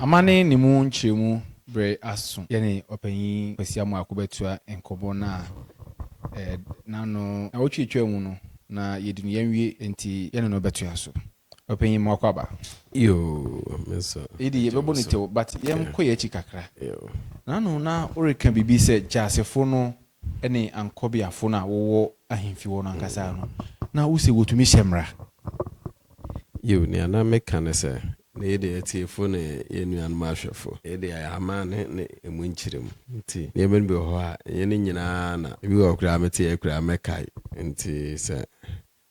Amane ne mu nkyerɛmu bere aso. Yɛne Ɔpanyin Kwasi Amoako bɛtoa nkɔmmɔ no a ɛɛ n'ano. Nnawɔtwe atwam no na yɛadi no yɛanwie, enti yɛne no bɛtoa so. Ɔpanyin mu akwaaba. Yoo, me nso. Edi yɛbɛbɔ no tew but yɛnkɔ yɛn akyi kakra. Naanu na woreka biribi sɛ Gyasefo no ne Ankɔbeafo no a wɔwɔ ahemfi hɔ no ankasa no na wose wotumi hyɛ mmara. Yiw, nea na meka ne sɛ, na yɛde atiefo ne yɛn nuanom ahwɛfo. Yɛde ayɛ amanne ne emu nkyeremu. Enti nneɛma no bi wɔ hɔ a, ɛnyɛ ne nyinaa na ebi wɔ hɔ koraa a mete a ɛyɛ koraa a mɛkae. Enti sɛ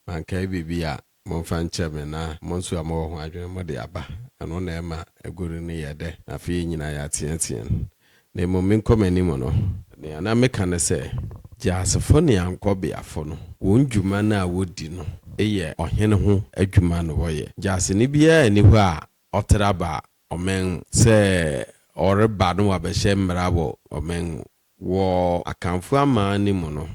mankae biribi a, Momfa nkyɛ me na mo nso a mowɔ ho adwene mo de aba. Ɛno na ɛma agoru no yɛ dɛ, na afei yɛn nyinaa yɛateateam. Na mmom me nkɔmanim no. Nea na meka ne sɛ, Gyaasefo ne ankɔbeafo no, wɔn dwuma no a wɔdi no yɛ ɔhene ho adwuma na wɔyɛ. Gyaaseni biara nni hɔ a ɔtra ba ɔman mu sɛ ɔreba na wabɛhyɛ mmara wɔ ɔman mu. Wɔ Akanfoɔ aman no mu no,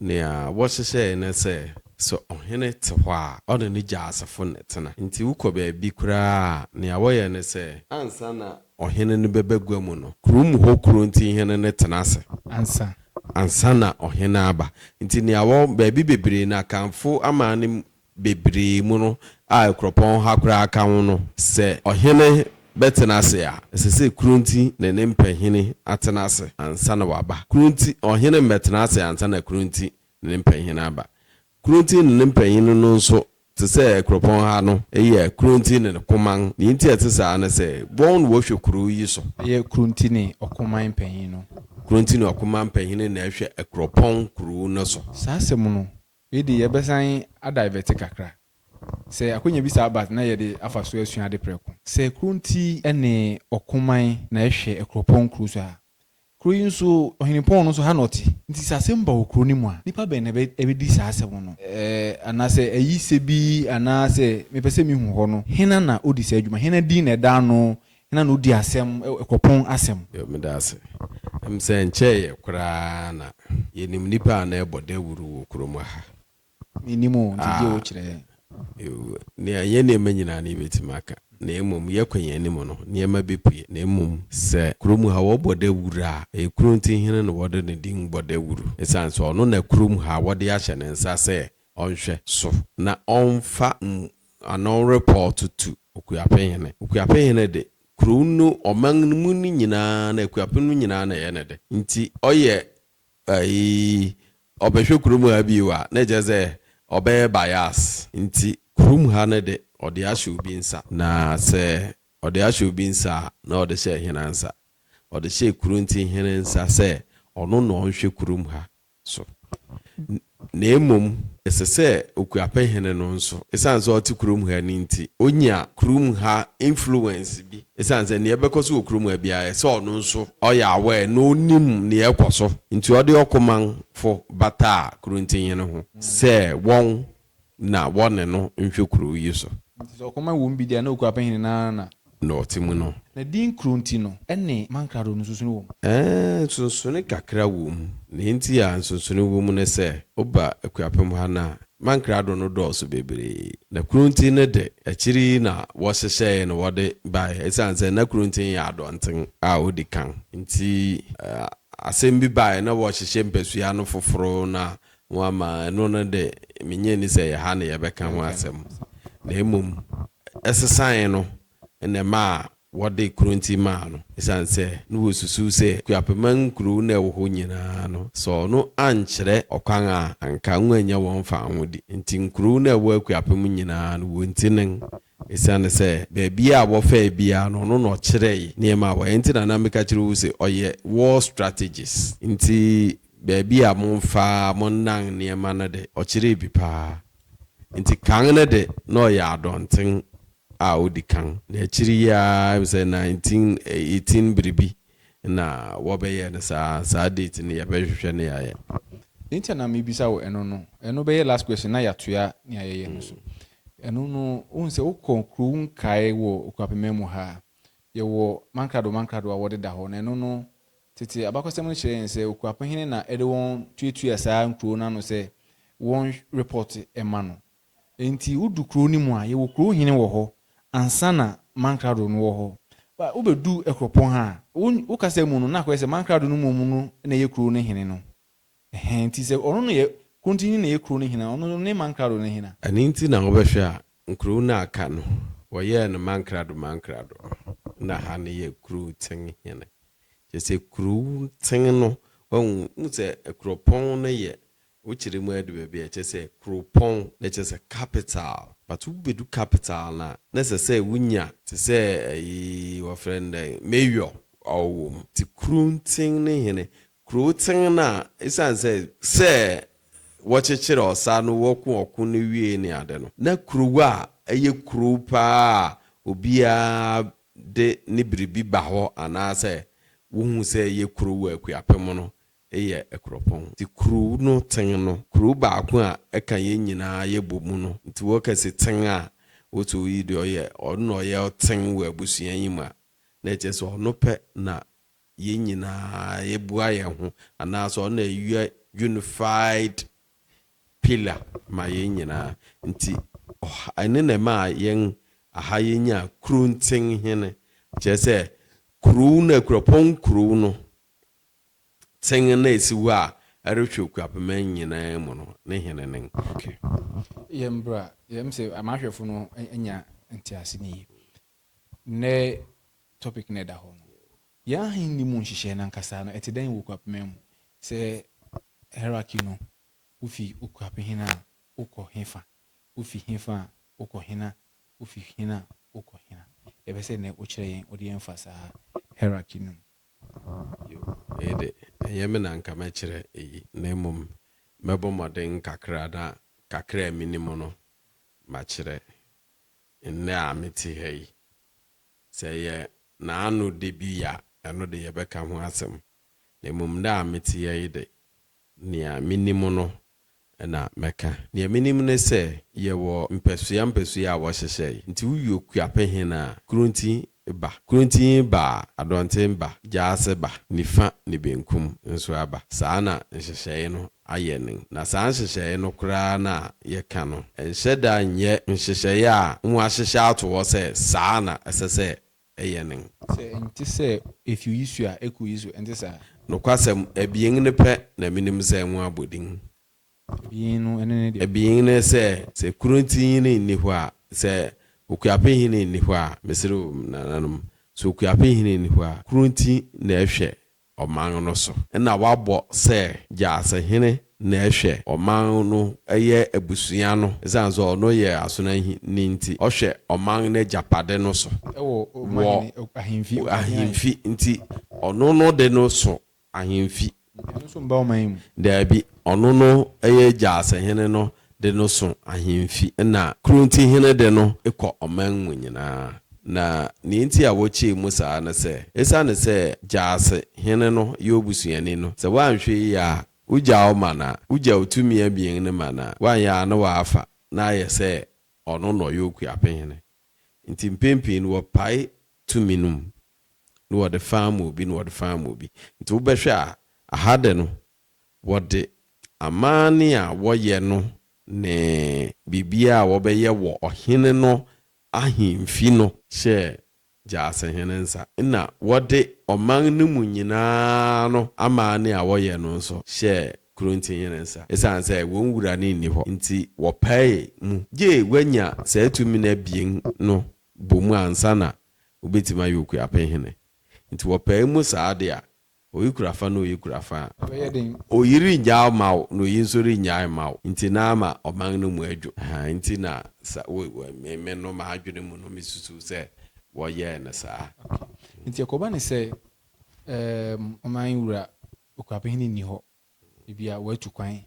nea wɔhyehyɛe ne sɛ, sɛ ɔhene te hɔ a, ɔne ne gyaasefo na ɛtena. Enti wokɔ baabi koraa a, nea wɔyɛ ne sɛ, ansa na ɔhene no bɛba gua mu no, kurom hɔ kuronti hene no tena ase ansa ansa na ɔhene aba. Enti nea wɔ baabi bebree no, Akanfo aman no bebree mu no a kuropɔn ha koraa ka ho no, sɛ ɔhene bɛtena ase a, ɛsɛ sɛ kuro nti ne ne mpahini atena ase ansa na waba. Kuro nti ɔhene mmɛtena ase ansa na kuro nti ne ne mpahini aba. Kuro nti ne ne mpahini no nso, te sɛ kuropɔn ha no, yɛ kuro nti ne ne koman. Deɛ nti a ɛte saa ne sɛ, wɔn na wɔhwɛ kuro yi so. Ɛyɛ kuro nti ne ɔkoman mpanin no. Kuro nti ne ɔkoman mpanin na ɛhwɛ kuropɔn kuro no so. Saa asɛm no, Wei de yɛbɛsan adivɛte kakra. Sɛ akwanya bi saa ba a, na yɛde afa so asua ade prɛko. Sɛ kuro nti ne ɔko man na ɛhwɛ akuropɔn nkuro so a, kuro yi nso ɔhene pɔn no nso ha na ɔte. Nti sɛ asɛm ba wɔ kuro no mu a, nnipa bɛn na ɛbɛdi saa asɛm no? Anaasɛ ayisɛ bi anaa sɛ mepɛ sɛ mehu hɔ no, hena na ɔdi saa adwuma? Hena din na ɛda ano Hena na odi asɛm wɔ pon asɛm? Yoh. Meda ase. Ɛm sɛ ɛnkyɛeɛ koraa na yɛnim nnipa a na ɛbɔ dawuru wɔ kurom ha. Mennim o, nti gye wo kyerɛ yɛn. Yoh. Nea ɛnyɛ nneɛma nyinaa na yɛbɛtumi aka, na mmom yɛkɔ yɛn anim no, nneɛma bɛpue. Na mmom sɛ kurom ha wɔbɔ dawuru a, ɛyɛ kuro nti hene na wɔde ne din bɔ dawuru. Ɛsiane sɛ ɔno na kurom ha wɔde ahyɛ ne nsa sɛ ɔnhwɛ so na ɔmfa ano repɔɔto tu Okuapɛ hene. Okuapɛ hene de, kurow no, ɔman no mu no nyinaa na Akuapɛ no nyinaa na ɛyɛ ne de. Nti ɔyɛ ayi, ɔbɛhwɛ kurom ha bio a, na ɛkyerɛ sɛ ɔbɛyɛ bias. Nti kurom ha no de, ɔde ahyɛ obi nsa. Na sɛ ɔde ahyɛ obi nsa a, na ɔde hyɛ hena nsa? Ɔde hyɛ Kuronti hene nsa sɛ ɔno na ɔnhwɛ kurom ha. so, na mmom ɛsɛ sɛ Okuapɛ Hene no nso, esiane sɛ ɔte kurom ha no nti, onya kurom ha influence bi, esiane sɛ nea ɛbɛkɔ so wɔ kurom ha biara, ɛsɛ sɛ ɔno nso ɔyɛ aware na onim nea ɛkɔ so. Nti ɔde ɔkomamfo bataa Kurontihene ho sɛ wɔn na wɔne no nhwɛ kurow yi so. Enti sɛ ɔkɔm awo mbi de a, na okura pɛhene no ara na. Na ɔte mu no. Na din koro nti no, ɛne mankrado no nsonsonoe wom. Ɛɛ, nsonsonoe kakra wom. Nea enti a nsonsonoe wom ne sɛ, woba Akuapem ha no a, mankrado no dɔɔso bebree. Na Kuronten no de, akyiri yi na wɔhyehyɛe na wɔde bae esiane sɛ na Kuronten yɛ adɔnten a odi kan nti. Asɛm bi bae na wɔrehyehyɛ mpasua no foforo na ho ama ɛno no de, minnye nni sɛ ɛyɛ ha na yɛbɛka ho asɛm, na mmom ɛsesae no na ɛmaa wɔde Kronti maa no, esiane sɛ na wosusuw sɛ Akuapemman nkurow no a ɛwɔ hɔ nyinaa no sɔɔ no ankyerɛ ɔkwan a anka wɔrennya wɔn faahodi. Enti nkurow no a ɛwɔ Akuapem nyinaa no, wonti nen, esiane sɛ baabi a wɔfɛe biara no ɔno na ɔkyerɛe nneɛma a wɔyɛ. Enti na na meka kyerɛ wo se ɔyɛ war strategist. Enti Baabi a momfa monnan nneɛma no de, ɔkyeree bi paa. Enti kan no de, na ɔyɛ adɔnten a odi kan, na akyiri yi ara, ɛm sɛ 1918 biribi na wɔbɛyɛɛ no saa. Saa date no yɛbɛhwehwɛ na yɛayɛ. Deɛ nti a na mebisa wo ɛno no, ɛno bɛyɛ last question na yɛatoa nea yɛyɛ no so. Ɛno no, wohu sɛ wokɔ kurow nkaeɛ wɔ Okuapemman mu ha a, yɛwɔ mankrado mankrado a wɔdeda hɔ, na ɛno no, Tete abakɔsɛm no kyerɛ yɛn sɛ okuapɛ hene na ɛde wɔn tuatua saa nkurow no ano sɛ wɔnrepɔte mma no. Enti wodu kurow no mu a, yɛwɔ kurow hene wɔ hɔ ansa na mankrado no wɔ hɔ. Ba, wobedu Ɛkorɔpɔn ha a, wo, wo kasa mu no, na akɔyɛ sɛ mankrado no mmom no na ɛyɛ kurow no hene no. Ɛhɛn, ntsi sɛ ɔno no yɛ krɔntsenyi na yɛ kurow no hena, ɔno no ne mankrado no hena? Ɛno ntsi na wɔbɛhwɛ a, nkurow no a aka no, wɔyɛɛ no mankrado mankrado, nna ha no yɛ kurowtsen hene. Kyerɛ sɛ kurowtsen no, wahu, wohu sɛ kurɔpɔn no yɛ, wokyerɛ mu ara du baabi a, kyerɛ sɛ kurowpɔn, na kyerɛ sɛ capital, but wobedu capital no a, na ɛsɛ sɛ wonya, tse sɛ ayi, wɔfrɛ no dɛn, mayor a ɔwɔ mu. Ntsi kurowtsen no hene, Kurowtsen no a esiane sɛ sɛ wɔkyekyere ɔsa no wɔko ɔko no wiei ne ade no, na kurow a ɛyɛ kurow paa a obiara de ne biribi ba hɔ anaasɛ wohu sɛ ɛyɛ kurow wɔ Akuapem no yɛ Akuropɔn. Enti kurow no tsen no, kurow baako a ɛka yɛn nyinaa yɛbɔ mu no. Enti wɔka se tsen a, wose oyi deɛ ɔyɛ, ɔno na ɔyɛ ɔtsen wɔ abusua yi mu a, na ɛkyerɛ sɛ ɔno pɛ na Yɛn nyinaa yɛbua yɛn ho anaasɛ ɔno na ɛyɛ unified pillar ma yɛn nyinaa nti ɔha ɛno na ɛmaa yɛn aha yɛnya Kurontsen hene kyerɛ sɛ kurow no Akuapɔn kurow no tsen no a ɛsi hɔ a ɛrehwɛ Okuapeman nyinaa mu no ne hene nen. Okay. Yɛn bra yɛn sɛ amahwɛfo no anya ntease no yie. Nnɛ topic no a ɛda hɔ no, Yɛn Ahenni mu nhyehyɛe no ankasa no, ɛte dɛn wɔ Okuapema mu? Sɛ hierarchy no, wufi Okuapehene a, wokɔ hefa? Wufi hefa a, wokɔ hena? Wufi hena a, wokɔ hena? Yɛpɛ sɛ nnɛ wokyerɛ yɛn, wode yɛn fa saa hierarchy no mu. Yiw, me de, ɛnyɛ me na anka mɛkyerɛ eyi, na mmom mɛbɔ mmɔden kakra na kakra a minim no, makyerɛ. Nnɛ a mete ha yi, sɛ ɛyɛ n'ano da bi a, ɛno de yɛbɛka ho asɛm, na mmom nnɛ a mete ha yi de, nea minim no na mɛka. Nea minim ne sɛ, yɛwɔ mpasua mpasua a wɔhyehyɛe, nti wowie okuapɛ he no a, kuro nti ba, kurontini ba a, adɔnten ba, gyaase ba, nifa ne benkum nso aba. Saa na nhyehyɛe no ayɛ no. Na saa nhyehyɛe no koraa na yɛka no. Ɛnhyɛ da nyɛ nhyehyɛe a wɔahyehyɛ ato hɔ sɛ saa na ɛsɛ sɛ ɛyɛ no. Sɛ ɛnte sɛ efi oyi so a, ɛkɔ oyi so. Ɛnte saa? Nokwasɛm abien no pɛ na minim sɛ wɔabɔ din. Abien no ne ne deɛ. Abien no sɛ, sɛ Kurontihene nni hɔ a, sɛ Okuapehene nni hɔ a, mesrɛ o me nananom, sɛ Okuapehene nni hɔ a, Kuronti na ɛhwɛ ɔman no so. Ɛna wɔabɔ sɛ Gyasehene na ɛhwɛ ɔman no yɛ abusua no, ɛsiane sɛ ɔno yɛ Asonahene nti, ɔhwɛ ɔman no agyapade no so wɔ ahemfi nti, ɔno no de no so ahemfi. Ɔno nso mma ɔman mu. Daabi, ɔno no yɛ agya asehene no de no so ahemfi, ɛnna kurontihene de no kɔ ɔman mu nyinaa. Na nea enti a wɔkyɛɛ mu saa ne sɛ, esiane sɛ gyaase hene no yɛ obusuani no, sɛ wanhwɛ yiye a, wogyaa wo man a, wogyaw tumi abien no man a, woanyɛ a na wɔafa na ayɛ sɛ ɔno na ɔyɛ okuapehene. Enti mpɛn pii no wɔpae tumi no mu na wɔde fã ma obi na wɔde fã ma obi. Nti wobɛhwɛ a, aha dɛ no, wɔde amanne a wɔyɛ no ne biribiara a wɔbɛyɛ wɔ ɔhene no ahemfi no hyɛɛ Gyasehene nsa. Nna wɔde ɔman no mu nyina ara no amanne a wɔyɛ no nso hyɛɛ Kurontihene nsa. Esiane sɛ wɔn wura no nni hɔ nti, wɔpaee mu gyee wɔanya saa tumi no abien no bɔ mu ansa na wobetumi ayɛ Okuapɛn hene. Nti wɔpae mu saa de a, oyi kura fa na oyi kura fa a, oyi rennyaw mma wo na oyi nso rennyae mma wo, nti na ama ɔman no mu adwo. Ɛhaa nti na sa wo wo me me no m'adwene mu no mesusuw sɛ wɔyɛɛ no saa. Okay. Nti ɛkɔba no sɛ ɛɛm ɔman wura Okuapɛn hene nni hɔ, ebia watu kwan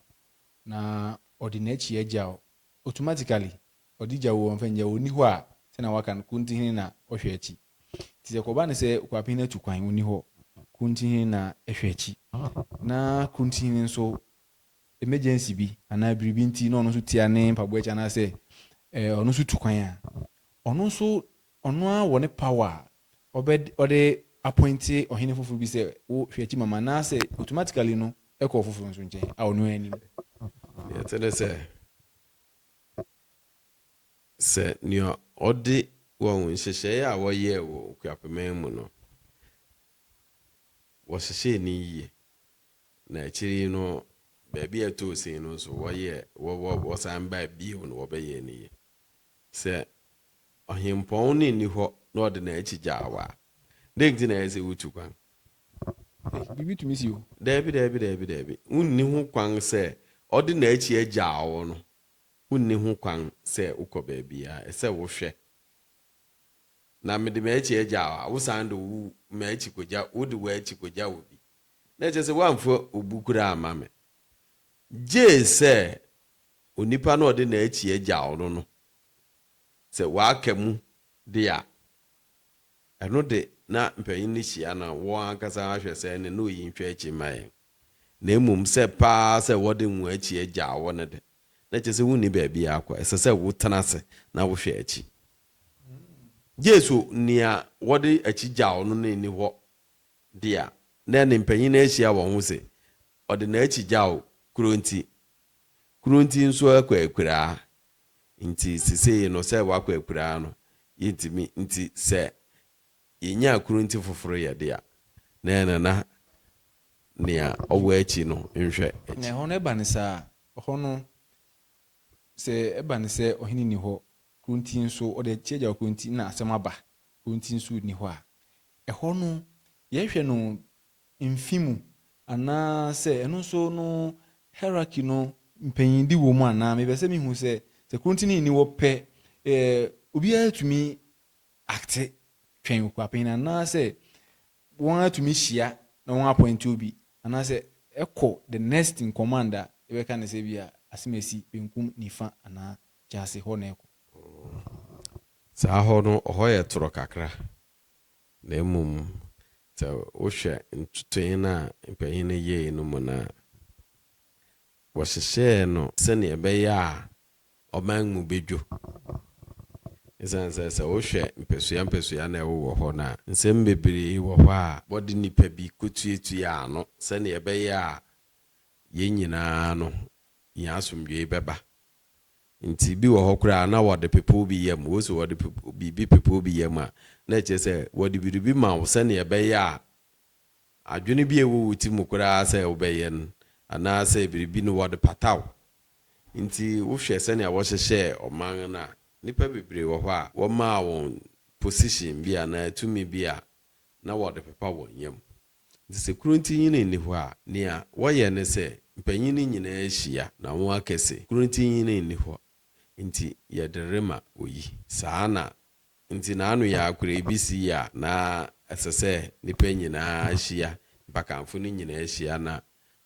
na ɔde n'akyi agyaw automatically Ɔde gya o, ɔmfa ngya o, ɔnni hɔ a, sɛnea wɔaka no, Kuntihene na ɔhwɛ akyi. Nti sɛ kɔba no sɛ Kwapene atu kwan, ɔnni hɔ, Kuntihene na ɛhwɛ akyi. Na Kuntihene nso, emergency bi anaa biribi nti na ɔno nso tia ne mpaboa akyi anaasɛ eh, ɔno nso tu kwan a, ɔno nso, ɔno ara wɔ ne power a ɔbɛ, ɔde appointe ɔhene foforo bi sɛ, wo hwɛ akyi mama, anaasɛ automatically no ɛkɔ ɔfoforo nso nkyɛn a ɔno ara nim. Deɛ ɛte ne sɛ, Sɛ nea ɔde wɔn nhyehyɛe a wɔyɛɛ wɔ Okuapeman mu no, wɔhyehyɛɛ no yiye, na akyiri yi no baabi a ɛtɔɔ sin no nso wɔyɛɛ, wɔ, wɔ, wɔsan bae bio na wɔbɛyɛɛ no yiye. Sɛ ɔhempɔn no nni hɔ na ɔde n'akyi gyaa wo a, Dɛn nti na ɛyɛ sɛ wutu kwan? Ei, biribi tumi si o. Daabi, daabi, daabi, daabi. Wunni ho kwan sɛ ɔde n'akyi agyaw wo no. Wunni ho kwan sɛ wokɔ baabiara. Ɛsɛ sɛ wohwɛ. Na mede m'akyi agyaw a, wosan de wo m'akyi kogya, wode w'akyi kogya obi. Na ɛkyerɛ sɛ woamfa obu koraa amma me. Gye sɛ onipa no a ɔde n'akyi agyaw no no, sɛ waka mu de a, Ɛno de, na mpanyin no hyia na wɔn ankasa ahwɛ sɛ ɛnne no reyi nhwɛ akyi mma yɛn. Na mmom sɛ pɛ ara sɛ wɔde wɔn akyi agyaw wo no de, na kyerɛ sɛ wunni baabi akɔ. Ɛsɛ sɛ wotena ase na wohwɛ akyi. Gye sɛ nea wɔde akyi gyaw no no nni hɔ de a, na ɛnne mpanyin no ahyia wɔn ho sɛ ɔde n'akyi gyaw kuro nti. Kuro nti nso akɔ akuraa. Nti sesei no sɛ wakɔ akuraa no yɛntumi nti sɛ yɛnya akurunti foforo yɛ de a na ɛna na nea ɔwɔ akyi no nhwɛ akyi. Na ɛhɔ no ɛba no saa, ɛhɔ no sɛ ɛba no sɛ ɔhene nni hɔ, kurunti nso ɔde akyi agya hɔ kurunti na asɛm aba, kurunti nso nni hɔ a, ɛhɔ no yɛhwɛ no mfe mu anaa sɛ ɛno nso no hierarchy no mpanyindi wɔ mu anaa mepɛ sɛ mehu sɛ sɛ korontini nni hɔ pɛ eh, obiara tumi acte twɛn okuapanyin anaa sɛ wɔn atumi hyia na wɔn appoint obi anaa sɛ ɛkɔ the next in command a yɛbɛka no sɛ bi a asemasi benkum nifa anaa kyaase hɔ na ɛkɔ. Saa hɔ no ɔhɔ yɛ toro kakra. Na mmom, sɛ wohwɛ ntotoe no a mpanyin no yɛe no mu no a, wɔhyehyɛɛ no sɛnea ɛbɛyɛ a ɔman mu bedwo, esiane sɛ sɛ wohwɛ mpasua mpasua na ɛwowɔ hɔ no a, nsɛm bebree wɔ hɔ a wɔde nnipa bi kotuatua ano sɛnea ɛbɛyɛ a yɛn nyinaa no, yɛn asomdwoe bɛba. Nti bi wɔ hɔ koraa a na wɔde pepow bi yam. Wose wɔde biribi pepow bi yam a, na ɛkyerɛ sɛ wɔde biribi ma wo sɛnea ɛbɛyɛ a adwene bi a ɛwɔ wo ti mu koraa sɛ wobɛyɛ no anaasɛ biribi no wɔde pata wo. Nti wohwɛ sɛnea wɔhyehyɛɛ ɔman no a, nnipa bebree wɔ hɔ a wɔmaa wɔn position bi anaa tumi bi a na wɔde pepa wɔn yam. Enti sɛ kuro ntinyini nni hɔ a, nea wɔyɛ ne sɛ, mpanyin no nyinaa hyia na wɔaka se, Kuro ntinyini nni hɔ, enti yɛde rema oyi. Saa na enti na ano yɛ akorɛ bi si a na ɛsɛ sɛ nnipa nyinaa hyia, nnipakanfo no nyinaa hyia na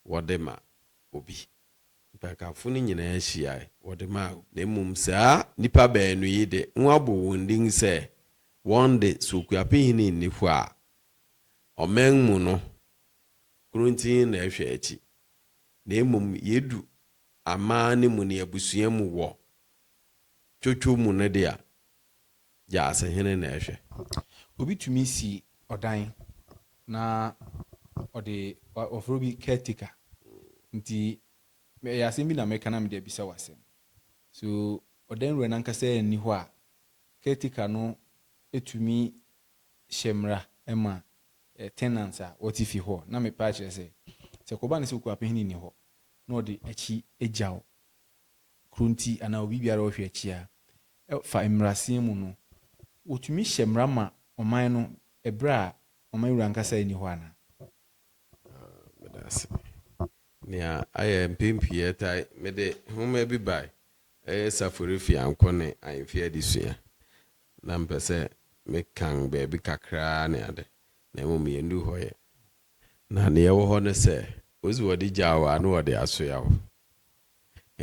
wɔde ma obi. Nnipakanfo no nyinaa hyiae, wɔde maa obi. Na mmom saa nnipa baanu yi de, wɔabɔ wɔn din sɛ wɔn de, sɛ Okuapehene nni hɔ a, Ɔman mu no, korontii na ɛhwɛ akyi, na mmom yedu aman no mu ne abusua mu wɔ twotwo mu no de a, Gyaasehene na ɛhwɛ. Obi tumi si ɔdan na ɔde wɔfrɛ obi caretaker. Nti ɛyɛ asɛm bi na mɛka na mede abisa wo asɛm. So ɔdan wura no ankasa nni hɔ a, caretaker no tumi hyɛ mmara ma tenants a wɔte fie hɔ na mepɛ akyerɛ sɛ, sɛ ɛkɔba no sɛ okuapahene nni hɔ na ɔde akyi gyaw kuro nti anaa obi biara a ɔhwɛ akyi a, ɛfa mmarasen mu no, wɔtumi hyɛ mmara ma ɔman no bere a ɔman wura ankasa nni hɔ anaa? Meda ase. Nea ayɛ mpɛn pii ɛtaa, mede nwoma bi bae, ɛyɛ Safori Fiankɔ ne Ahemfie Adesua. Na mpɛ sɛ me kan baabi kakraa ne ade, na mmom yɛn du hɔ yɛ. Na nea ɛwɔ hɔ ne sɛ, wo se wɔde gyaa wo a na wɔde asoa wo.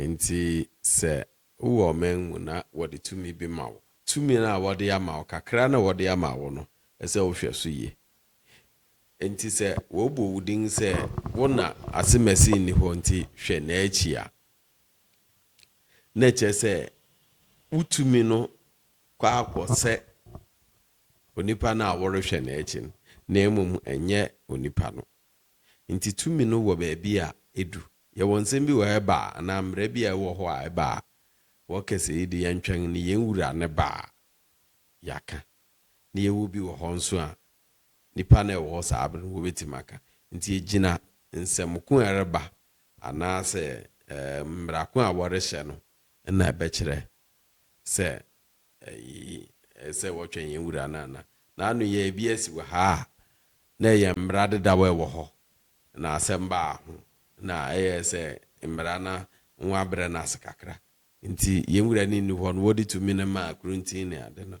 Enti sɛ wowɔ ɔman mu na wɔde tumi bi ma wo, tumi no a wɔde ama wo, kakraa no a wɔde ama wo no, ɛsɛ sɛ wohwɛ so yie. Enti sɛ wɔbɔ wo din sɛ wo na asemasi nni hɔ nti hwɛ n'akyi a, na ɛkyerɛ sɛ wo tumi no kɔ ara kɔ sɛ onipa no a worehwɛ no akyi no, na mmom ɛnyɛ onipa no. Nti tumi no wɔ baabi a edu. Yɛwɔ nsɛm bi wɔ hɔ ɛba a, anaa mmara bi a ɛwɔ hɔ a ɛba a, wɔka sɛ eyi de yɛntwɛn no yɛn wura no ba a yɛaka. Na yɛwɔ bi wɔ hɔ nso a nnipa no a ɛwɔ hɔ saa bere no wɔbɛtumi aka. Nti egyina nsɛm ko a ɛreba anaasɛ mmara ko a wɔrehyɛ no na ɛbɛkyerɛ sɛ ɛsɛ sɛ wɔtwɛn yɛn Wura no anaa? Na ano yɛn bi asi wɔ ha a na ɛyɛ mmara dedaw a ɛwɔ hɔ na asɛm baa ho na ɛyɛɛ sɛ mmara no ho abrɛ no ase kakra nti yɛn Wura no nni hɔ no wɔde tumi no maa Korinti ne ade no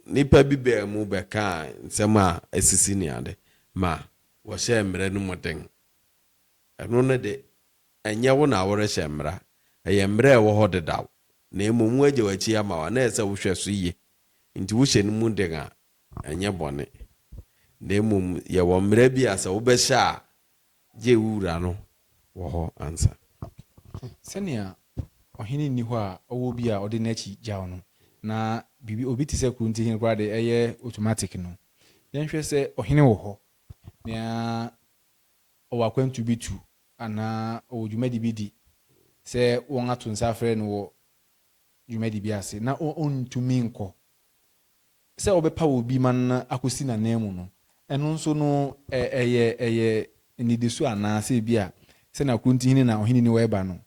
nnipa bi baa mu bɛkaa nsɛm a asisi ne ade ma wɔhyɛɛ mmara no mu den. Ɛno no de, ɛnyɛ wo na worehyɛ mmara. Ɛyɛ mmara a ɛwɔ hɔ dedaw, na mmom wɔagyaw akyi ama wo a na ɛsɛ sɛ wohwɛ so yie. Enti wohyɛ no mu den a, ɛnyɛ bɔne. Na mmom yɛwɔ mmara bi a sɛ wobɛhyɛ a, gye wo wura no wɔ hɔ ansa. Sɛnea ɔhene nni hɔ a ɔwɔ obi a ɔde n'akyi gyaw no, na biribi, obi te sɛ kurontihene koraa de, ɛyɛ automatic no, yɛnhwɛ sɛ ɔhene wɔ hɔ. Nea ɔwɔ akwantu bi tu anaa ɔwɔ dwumadi bi di, sɛ wɔato nsa afrɛ no wɔ dwumadi bi ase na ɔrentumi nkɔ, sɛ wɔbɛpaw obi ma no akosi n'ananmu no, ɛno nso no, ɛyɛ nnidiso anaa sɛ ebia sɛnea Kronti Hene na Ɔhene Niwa reba no,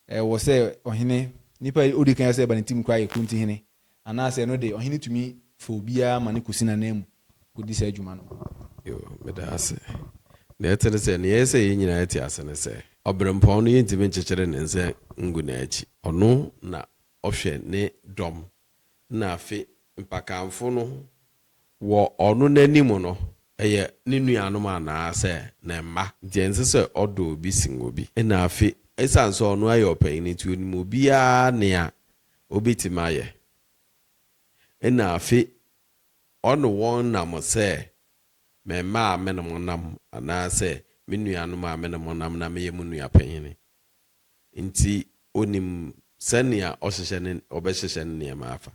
Ɛwɔ sɛ ɔhene, nipa a odi kan a ɛsɛ sɛ ɛba ne tirim koraa yɛ kurontihene, anaasɛ ɛno de, ɔhene tumi fa obiara ma no kosi n'ananmu kodi saa dwuma no. Yoo, meda ase. Nea ɛte ne sɛ, nea ɛyɛ sɛ yɛn nyinaa te ase ne sɛ, ɔberempɔn no, yentumi nkyekyere ne nsa ngu n'akyi. Ɔno na ɔhwɛ ne dɔm. Ɛnna afe mpakanfo no Wɔ ɔno n'anim no, ɛyɛ ne nuanom anaasɛ ne mma nti, ɛnsɛ sɛ ɔdɔ obi sen obi. Ɛna afei, esiane sɛ ɔno yɛ ɔpanyin nti, onim obiara nea obetumi ayɛ. Ɛna afei, ɔne wɔn nam sɛ me mma a me ne mo nam anaasɛ me nuanom a me ne mo nam na meyɛ mo nua panyin nti, onim sɛnea ɔhyehyɛ ne ɔbɛhyehyɛ ne nneɛma afa.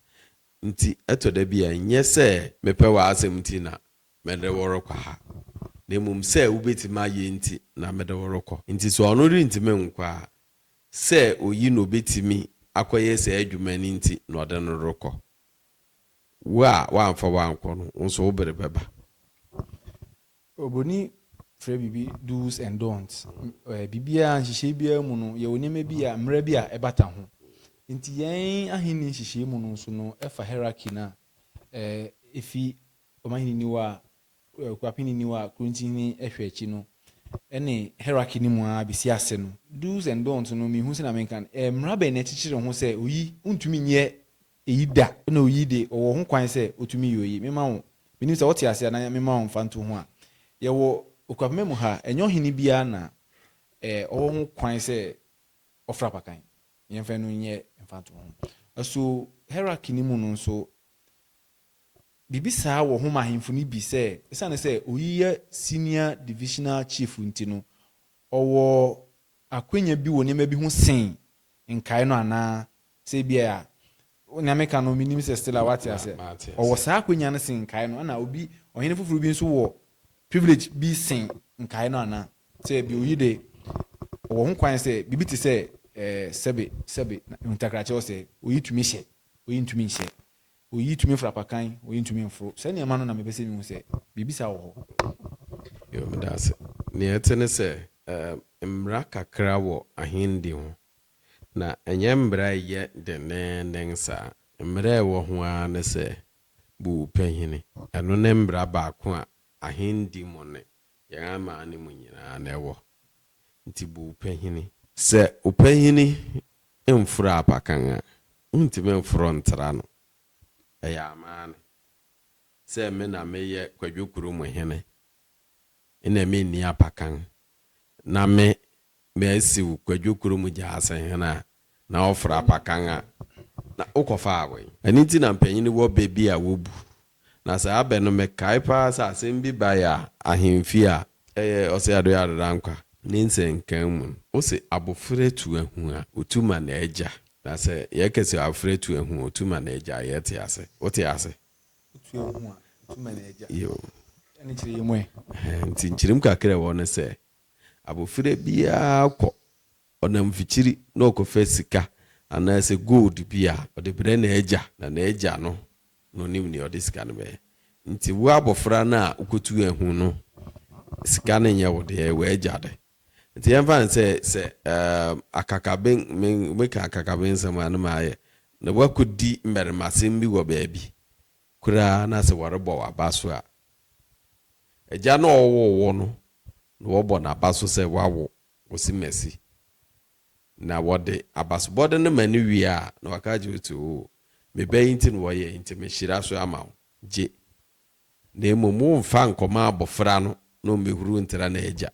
Nti ɛtɔ da bi a ɛnyɛ sɛ mepɛ w'asɛm nti na mede wo rekɔ ha, na mmom sɛ wubetumi ayɛ nti na mede wo rekɔ. Nti sɛ ɔno rentumi nkɔ a, sɛ oyi na obetumi akɔyɛ saa adwuma no nti na ɔde no rekɔ. Wo a woamfa wo ankɔ no, wo nso wo bere bɛba. Oburoni frɛ biribi do's and don'ts. Biribiara, nhyehyɛe biara mu no, yɛwɔ nneɛma bi a, mmara bi a ɛbata ho. Enti yɛn Ahenni nhyehyɛe mu no nso no, ɛfa hierarchy no a, efi ɔmanhene ni hɔ a, Akuapeni ni hɔ a, Kurontihene hwɛ akyi no, ɛne hierarchy no mu ara besi ase no, do's and don'ts no, minhu sɛnea menka no, mmara bɛn na ɛkyekyere ho sɛ oyi, wuntumi nyɛ eyi da, na oyi de, ɔwɔ ho kwan sɛ otumi yɛ oyi. Mema wo, minnim sɛ wote ase anaa, mema wo mfantoho ho a, yɛwɔ Okuapoma mu ha, ɛnyɛ ɔhene biara na ɔwɔ ho kwan sɛ ɔfra apakan. Yɛmfa ɛno nyɛ mfantoho. So hierarchy no mu no nso, biribi saa wɔ ho ma ahemfo no bi sɛ, esiane sɛ oyi yɛ senior divisional chief nti no, ɔwɔ akwanya bi wɔ nneɛma bi ho sen nkae no anaa? Sɛ ebia a, nea meka no, minnim sɛ Stella woate aseɛ. Ɔwɔ saa akwanya no sen nkae no, ɛna obi, ɔhene foforɔ bi nso wɔ privilege bi sen nkae no anaa? Sɛ ebia oyi de, ɔwɔ ho kwan sɛ biribi te sɛ, eh, sɛbe, sɛbe, na ntakrakyɛ ɔsɛe, oyi tumi hyɛ, oyi ntumi nhyɛ. Oyi tumi foro apakan, oyi ntumi mforo. Saa nneɛma no na mepɛ sɛ mihu sɛ biribi saa wɔ hɔ. Yoo, meda ase. Nea ɛte ne sɛ, ɛɛ, mmara kakra wɔ Ahenni ho, na ɛnyɛ mmara a ɛyɛ denneennen saa. Mmara a ɛwɔ ho ara ne sɛ, bu wo panyini. Ɛno ne mmara baako a Ahenni mu ne yɛn aman no mu nyinaa na ɛwɔ. Enti bu wo panyini. Sɛ wo panyini Mforo abakan a, wontumi mforo ntra no. Ɛyɛ amane sɛ me na meyɛ Kwadwo kuro mu hene, na menni abakan, na me masiw Kwadwo kuro mu gyaase hene a, na ɔforo abakan a, na wokɔfaa wɛn? Ɛno nti na mpanyin wɔ bɛ bi a wobu Na saa bɛ no mekae paa sɛ asɛm bi bae a ahemfie a. Ɛyɛ ɔse Ado yɛ Adodankwa ne nsɛnkan mu no, wose abofra tu ahu a, otu ma n'agya. Na sɛ yɛka se abofra tu ahu a, otu ma n'agya a, yɛte ase. Wote ase? Otu ahu a, otu ma n'agya. Yo. Ɛne nkyerɛ yɛ mu ɛ? Ɛhɛ, nti nkyerem kakra a ɛwɔ ne sɛ, abofra biara kɔ, ɔnam mfikyiri na ɔkɔfa sika anaasɛ gold bi a, ɔde brɛ n'agya, na n'agya no na ɔnim nea ɔde sika no bɛyɛ. Nti wo abɔfra no a wokotuu ahu no, sika no nyɛ wo de, ɛyɛ w'agya de. Nti yɛmfa no sɛ sɛ um, akakabe, me, meka akakabe nsɛm a na mayɛ, na woakɔdi mmarimasɛm bi wɔ baabi koraa na sɛ wɔrebɔ w'aba so a, agya no a ɔwoo wo no na wɔbɔ n'aba so sɛ woawo Osimesi. Na wɔde abasobɔde no ma no wie a, na waka akyerɛ wo sɛ, Oo, me ba yi nti na wɔyɛ, enti mehyira so ama wo. Gye. Na mmom womfa nkɔma abofra no na ɔmmɛhuru ntra n'agya.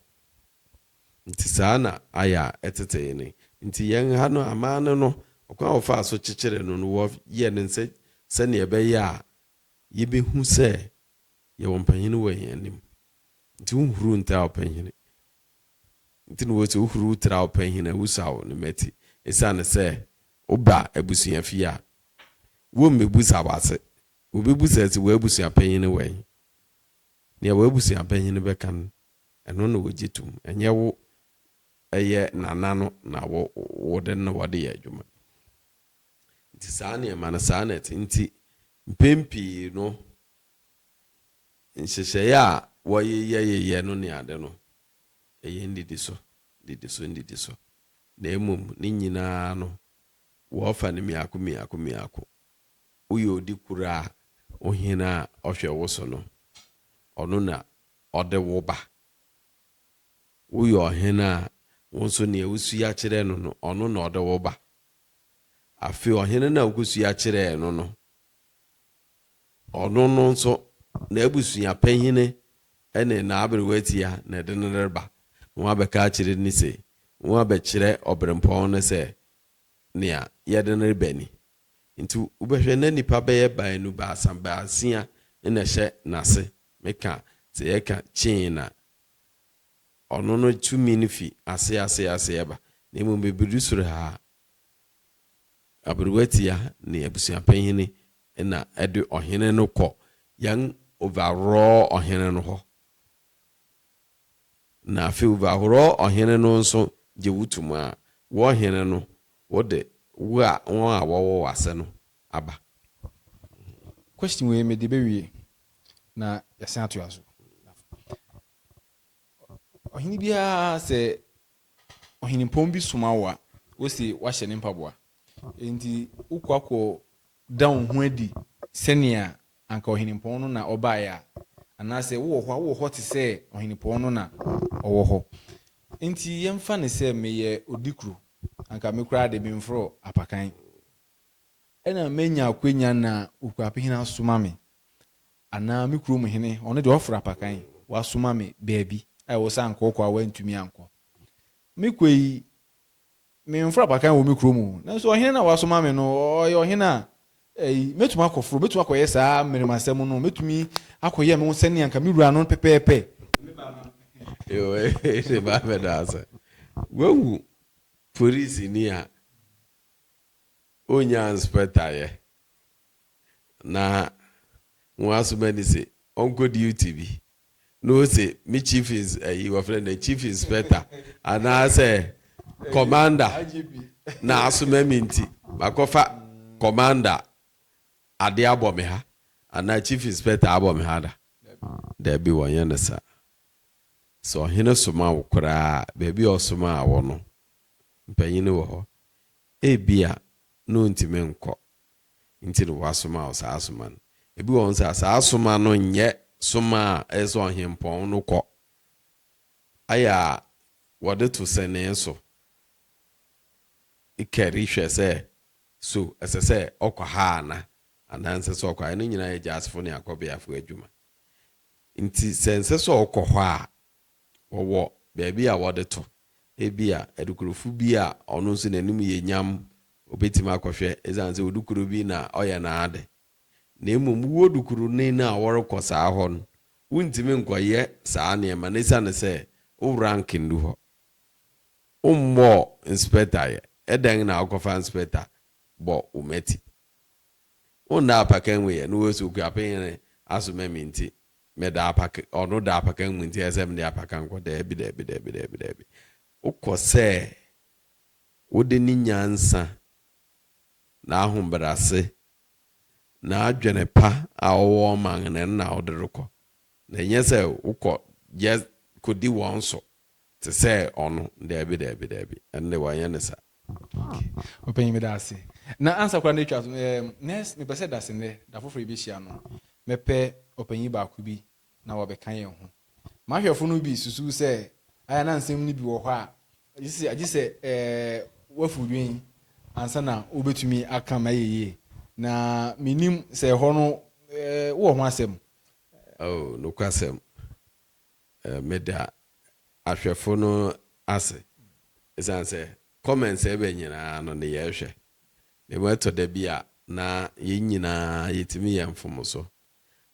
Enti saa na ayɛ a ɛtetee no. Enti yɛn ha no, aman no no, ɔkwan a wɔfaa so kyekyeree no no, wɔyɛ no sɛ sɛnea ɛbɛyɛ a yɛbɛhu sɛ yɛwɔ mpanin wɔ yɛn anim. Enti wonhuru ntra ɔpanyin. Nti na wɔse wohuruw tra wo panyin a, wusaw ne mmati. Esiane sɛ woba abusuafi a, wommebusa w'ase. Wobebusa se w'abusuapanyin ne wɛn. Nea w'abusuapanyin bɛka no, ɛno na wogye tom, ɛnyɛ wo. Ɛyɛ nana no na wode no na wɔde yɛ adwuma. Nti saa nneɛma no, saa na ɛte. Nti mpɛn pii no. Nhyehyɛeɛ a wɔyeyɛyeyɛ no ne ade no, ɛyɛ nnidiso, nnidiso, nnidiso, na mmom ne nyina ara no, wɔfa no mmiako mmiako mmiako. Woyɛ odi koro a, Ohene a ɔhwɛ wo so no, ɔno na ɔde wo ba. Woyɛ ɔhene a, wo nso nea wosua kyerɛ no no, ɔno na ɔde wo ba. Afei ɔhene no a wokɔsua kyerɛɛ no no, Ɔno no nso, n'abusua panyin ne n'aberewa tia na ɛde no reba. Wɔabɛka akyerɛ no se, wɔabɛkyerɛ ɔberempɔn no sɛ nea yɛde no reba ni. Enti wobɛhwɛ na nnipa bɛyɛ baanu baasa baasia na ɛhyɛ n'ase. Meka sɛ yɛka chain a, ɔno no tumi no fi ase ase ase ba, na mmom ebedu soro ha a, Aberewatia ne abusuapanyin na ɛde ɔhene no kɔ yɛn Overall ɔhene no hɔ. Na afei Overall ɔhene no nso gye wo tum a, wo ɔhene no, wode wo a wɔn a wɔwɔ w'ase no aba. Question wei me de bɛwie na yɛasan atoa so. Ɔhene biara sɛ Ɔhenempɔn bi soma wo a, wose woahyɛ ne mpaboa. Enti wokɔ akɔda wo ho adi sɛnea anka ɔhenempɔn no na ɔbaeɛ a, anaasɛ wowɔ hɔ a, wowɔ hɔ te sɛ ɔhenempɔn no na ɔwɔ hɔ. Enti yɛmfa no sɛ meyɛ odikuro, anka me koraa de, memforo apakan, ɛnna manya akwanya na Okuapehene asoma me. Anaa me kurom hene, ɔno deɛ ɔfra apakan, wasoma me baabi a ɛwɔ sɛ ankɔɔkɔ a wantumi ankɔ. Mekɔ yi, memfra apakan wɔ me kurom o, nanso ɔhene no a wasoma me no, ɔyɛ ɔhene a, ei, mɛtumi akɔforo, mɛtumi akɔyɛ saa mmarimasɛm no, mɛtumi akɔyɛ me ho sɛdeɛ anka me wura no pɛpɛɛpɛ. Yowei ne ba bɛda ase. Wahu polisini a ɔnnya inspector yɛ. na ho asoma ni se ɔnkɔ duty bi na ose me chief ins ayi wɔfrɛ no dɛ chief inspector anaasɛ commander na asoma me nti makɔfa commander ade abɔ me ha anaa chief inspector abɔ me ha da. Daabi wɔnyɛ no saa. Sɛ ɔhene soma wo koraa a baabi a ɔsomaa wo no mpanyin wɔ hɔ. Ebia na ontumi nkɔ nti na wɔasoma wo saa soma no. Ebi wɔ hɔ nso a, saa soma no nyɛ soma a ɛyɛ sɛ ɔhempɔn no kɔ. Ayɛ a wɔde to sɛnee so kari hwɛ sɛ, so ɛsɛ sɛ ɔkɔ ha ana, anaa ɛnsɛ sɛ ɔkɔ ha. Ɛno nyinaa yɛ gyasefo ne akɔbeafo adwuma. Nti sɛ ɛnsɛ sɛ ɔkɔ hɔ a, wɔwɔ baabi a wɔde to. Ebia adukurofo bi a ɔno nso n'anim yɛ nyam Obetumi akɔhwɛ esiane sɛ odukuru bi na ɔyɛ n'ade. Na mmom wo odukuruni no a wɔrekɔ saa hɔ no, wuntumi nkɔyɛ saa nneɛma no esiane sɛ wo rank nnu hɔ. Wommɔɔ inspector yɛ, ɛdɛn na wokɔfa inspector bɔ wo mmati? Wonda apakan mu yɛ, na wose Okuapɛn yere asoma me nti meda apak ɔno da apakan mu nti ɛsɛ sɛ mede apakan kɔ. Daabi, daabi, daabi, daabi, daabi. Wokɔ sɛ Wode ne nyansa, n'ahobrɛase, n'adwene pa a ɔwɔ ma no na wode rekɔ, na ɛnyɛ sɛ wokɔ yɛ kɔdi wɔn so te sɛ ɔno. Daabi, daabi, daabi, ɛnde wɔnyɛ no saa. Okay, Ɔpanyin, meda ase. Na ansa koraa na atwa so, ɛɛm, nɛs, mepɛ sɛ da se nnɛ, da foforo a yɛbɛhyia no, mɛpɛ ɔpanyin baako bi na wabɛka yɛn ho. M'ahwɛfo no bi susuw sɛ ayɛ a na nsɛm no bi wɔ hɔ a Gye sɛ woafi wo dwen ansa na wubetumi aka ma ayɛ yiye, na minnim sɛ ɛhɔ no wowɔ ho asɛm. Oh, nokwasɛm. Meda ahwɛfo no ase, esiane sɛ comments a ɛba nyinaa no na yɛhwɛ. Na emu ɛtɔ da bi a na yɛn nyinaa yetumi yɛ mfomso.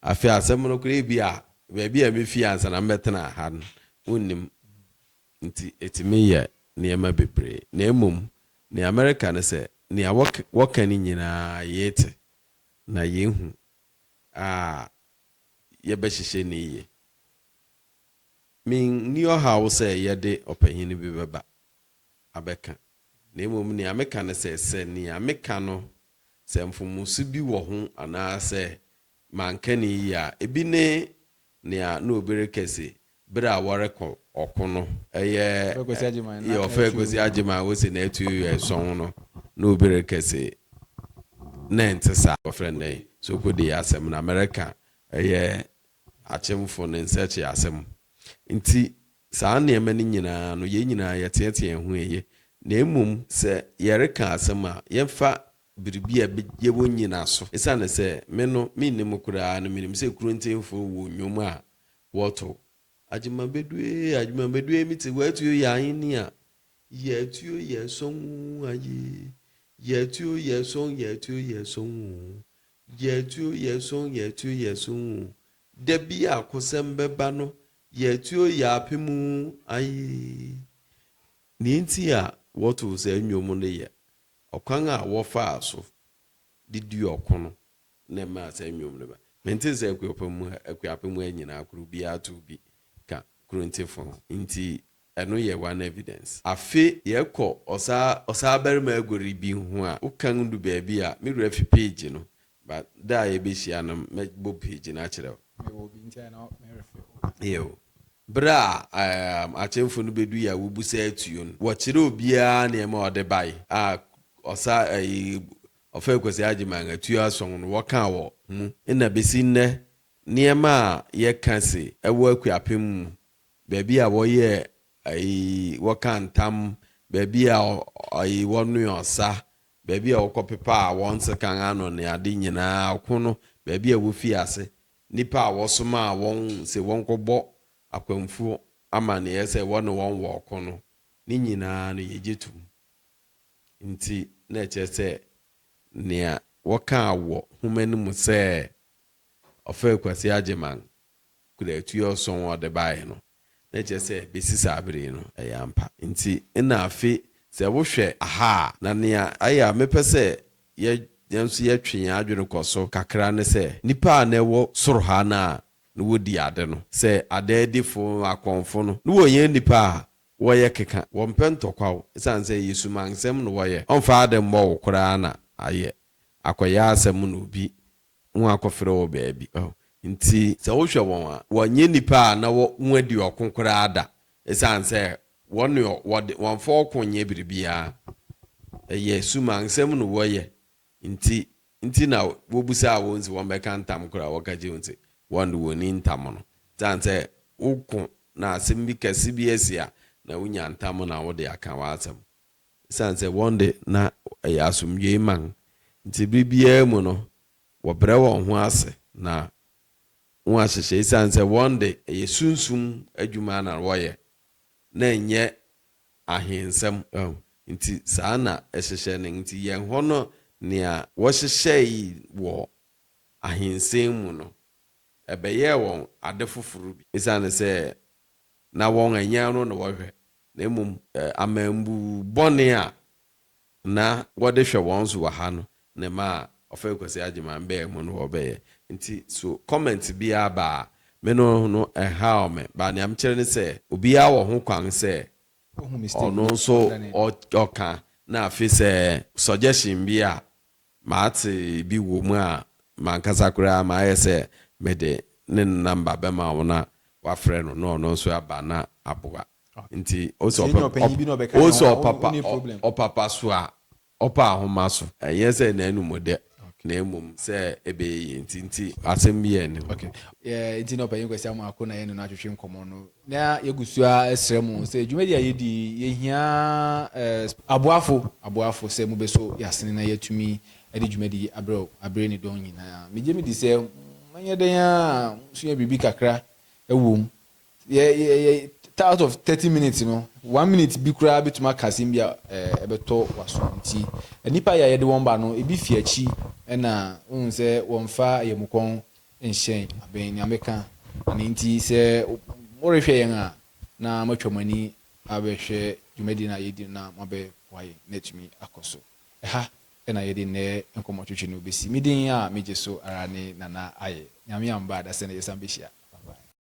Afei asɛm no koraa, ebia baabi a mifi ansa na mebɛtenaa ha no, wunnim. nti ɛtumi yɛ nneɛma bebree. Na mmom nea mereka ne sɛ, nea wɔka no nyinaa yete na yɛhu a yɛbɛhyehyɛ no yie. Menni ɔhaw sɛ yɛde ɔpanyin bi bɛba abɛka, na mmom nea meka ne sɛ, sɛ nea meka no sɛ mfomso bi wɔ ho anaasɛ manka no yie a, ebi ne Nea na obi rekɛ se bere a wɔrekɔ ɔko no. Ɛyɛ yɛ ɔfɛ Kwesi Agyeman wose n'atu yɛ sɔnn no, na obi rekɛ se na ɛnte saa. Wɔfrɛ no dɛn? Sokode asɛm no Amerika ɛyɛ akyemfo no nsɛkye asɛm. Nti saa nneɛma no nyinaa no yɛn nyinaa yɛteɛteɛ ho eye. Na mmom sɛ yɛreka asɛm a yɛmfa biribi a ɛbɛgye wɔn nnyinaso. Esiane sɛ me no menni mu koraa no, menim sɛ Kuruntenfoɔ wɔ nnwom a wɔto. Agyemabɛdu ee, agyemabɛdu ee, mete hɔ atuo yɛ ahenni a, yɛ atuo yɛ sɔn oo aye, yɛ atuo yɛ sɔn, yɛ atuo yɛ sɔn oo, yɛ atuo yɛ sɔn, yɛ atuo yɛ sɔn oo, da bi a kosɛm bɛba no, yɛ atuo yɛ apem oo aye. Nea enti a wɔto saa nnwom no yɛ Ɔkwan a wɔfaa so de dii ɔko no na ɛmaa saa nnwom no bae. Mente sɛ Akuapem mu ha, Akuapem mu ha nyinaa koro biara tow bi ka Korontefo ho, enti ɛno yɛ one evidence. Afe yɛkɔ ɔsaa ɔsaabarima Agori bi ho a, wokan du baabi a, me wura fi page no, But da a yɛbɛhyia no mɛbɔ page no akyerɛ wo. Mewɔ obi nti na merefe wo. Yiw. Bere a um akyemfo no bedui a wobu saa atuo no, wɔkyerɛ obiara nneɛma a ɔde bae a ɔsa ayi Ɔfɛe Kwasi Agyeman atuo ason no wɔka wɔ mu. Ɛna besi nnɛ nneɛma a yɛka se ɛwɔ Akuapem mu, baabi a wɔyɛɛ ayi wɔkaa ntam, baabi a ayi wɔnoe ɔsa, baabi a wɔkɔpepaa wɔn sekan ano ne ade nyinaa, ɔko no, baabi a wofii ase, nnipa a wɔsomaa wɔn se wɔnkɔbɔ akwamfo amanneɛ sɛ wɔne wɔn wɔ ɔko no, ne nyinaa no yegye tom. Enti, na ɛkyerɛ sɛ nea wɔkaa wɔ nhoma no mu sɛ Ɔfɛr Kwasi Agyeman kura atuo ason a ɔde bae no, Na ɛkyerɛ sɛ besi saa bere yi no ɛyɛ ampa. Enti nna afe sɛ wohwɛ ha a, na nea ayɛ a mepɛ sɛ yɛ yɛn nso yɛtwe yɛn adwene kɔ so kakra ne sɛ, nnipa a na ɛwɔ soro ha no a na wodi ade no, sɛ adaadifo, akɔmfo no, na wɔnyɛ nnipa a wɔyɛ keka, wɔmpɛ ntɔkwaw, esiane sɛ ɛyɛ sumansɛm na wɔyɛ, wɔmfa ade mmɔ wo koraa na ayɛ akɔyɛ asɛm na obi Wɔakɔfrɛ wɔ baabi. Enti sɛ wohwɛ wɔn a, wɔnyɛ nnipa a na wɔadi ɔko koraa da, esiane sɛ wɔn deɛ wɔde wɔmfa ɔko nyɛ biribiara, ɛyɛ sumansɛm na wɔyɛ nti nti na wobisaa wɔn se wɔmmɛka ntam koro a wɔka kyerɛɛ wɔn se wɔn de wɔnni ntam no. Esiane sɛ woko na asɛm bi kɛse bi asi a, na wonya ntam na wode aka w'asɛm. Esiane sɛ wɔn de, na ɛyɛ asomdwoe man nti, bere biara mu no, wɔbrɛ wɔn ho ase na wɔahyehyɛ. Esiane sɛ wɔn de, ɛyɛ sunsum adwuma na wɔyɛ, na ɛnyɛ ahensɛm nti, saa na ɛhyehyɛ no. Enti yɛn hɔ no, nea wɔhyehyɛe wɔ ahensɛm mu no, ɛbɛyɛɛ wɔn ade foforo bi. Esiane sɛ na wɔn anyan no na wɔhwɛ na mmom amambu bɔne a na wɔde hwɛ wɔn so wɔ ha no na ɛmaa Ɔfɛr Kwasi Agyeman bɛɛ mu no wɔbɛyɛ. Nti so comment biara ba a, me no no ɛnhaw me, but nea mekyerɛ ne sɛ obiara wɔ ho kwan sɛ ɔno nso ɔka na afei sɛ suggestion bi a Mate bi wom a, m'ankasa koraa mayɛ sɛ mede ne nɔmba bɛma wo na wafrɛ no na ɔno nso aba na aboa. Nti wo se ɔpapa so a, ɔpa ahoma so. Ɛnyɛ sɛ n'anom dɛ, na mmom sɛ ɛbɛyɛ yie nti. Nti asɛm biara nni ho. Nti na Ɔpanyin Kwasi Amoako na yɛne no atwetwe nkɔmmɔ no Na yegu so ara resrɛ mo sɛ dwumadi a yedi yi, yehia aboafo, aboafo sɛ mubeso yɛn asene na yɛatumi de dwumadi yi abrɛ bere ne dɔn nyinaa. Migye midi sɛ moanyɛ dɛn ara a musua biribi kakra wom. Yɛ, yɛ, yɛ, ta, out of thirty minutes no, one minute bi koraa betumi aka asɛm bi a ɛbɛtɔ w'asom. Enti, nnipa yi a yɛde wɔn ba no, ebi fi akyi na wohu sɛ wɔmfa ayamukɔn nhyɛn abɛn nea meka. Ɛno nti, sɛ morehwɛ yɛn a, na moatwa mo ani abɛhwɛ dwumadi no a yɛredi no na moabɛboa yɛn na atumi akɔ so. Ɛha na yɛde nnɛ nkɔmmɔtwetwe no besi. Me din a migye so ara ne Nana Aye. Nyame amma adasɛ na yɛsan behyia. Bye-bye.